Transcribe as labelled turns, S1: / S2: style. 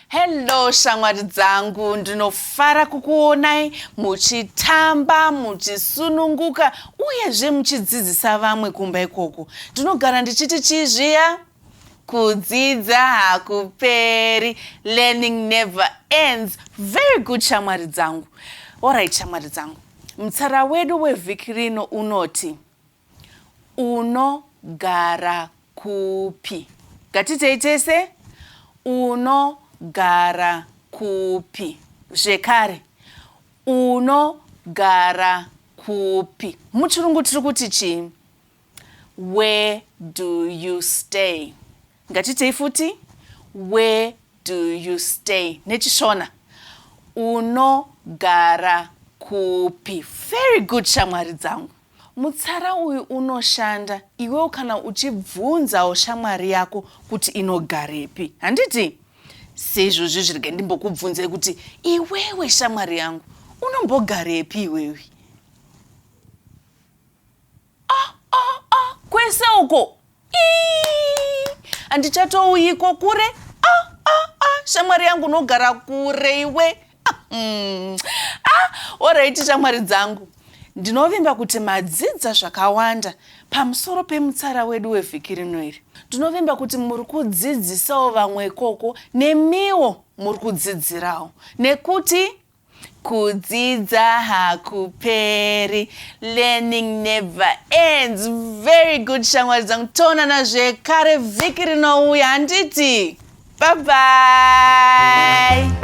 S1: hello shamwari dzangu ndinofara kukuonai muchitamba muchisununguka uyezve muchidzidzisa vamwe kumba ikoko ndinogara ndichiti chii zviya kudzidza hakuperi learning never ends very good shamwari dzangu orit shamwari dzangu mutsara wedu wevhiki rino unoti Unogara kupi? Ngatiitei tese. Unogara kupi? Zvekare. Unogara kupi? Muchirungu tiri kuti chii? Where do you stay? Ngatiitei futi. Where do you stay? NechiShona. Unogara kupi? Very good shamwari dzangu. Mutsara uyu unoshanda iwewo kana uchibvunzawo shamwari yako kuti inogarepi. Handiti? Seizvozvi zvirege ndimbokubvunzai kuti iwewe shamwari yangu unombogarepi iwewe? Ah, ah, ah, kwese uko! handichatouyiko kure ah, ah, ah, shamwari yangu unogara kure iwe ah, mm. ah, oraiti shamwari dzangu ndinovimba kuti madzidza zvakawanda pamusoro pemutsara wedu wevhiki rino iri ndinovimba kuti muri kudzidzisawo vamwe ikoko nemiwo muri kudzidzirawo nekuti Kudzidza hakuperi, learning never ends. Very good shamwari dzangu, toonana zvekare vhiki rinouya handiti? Bye bye.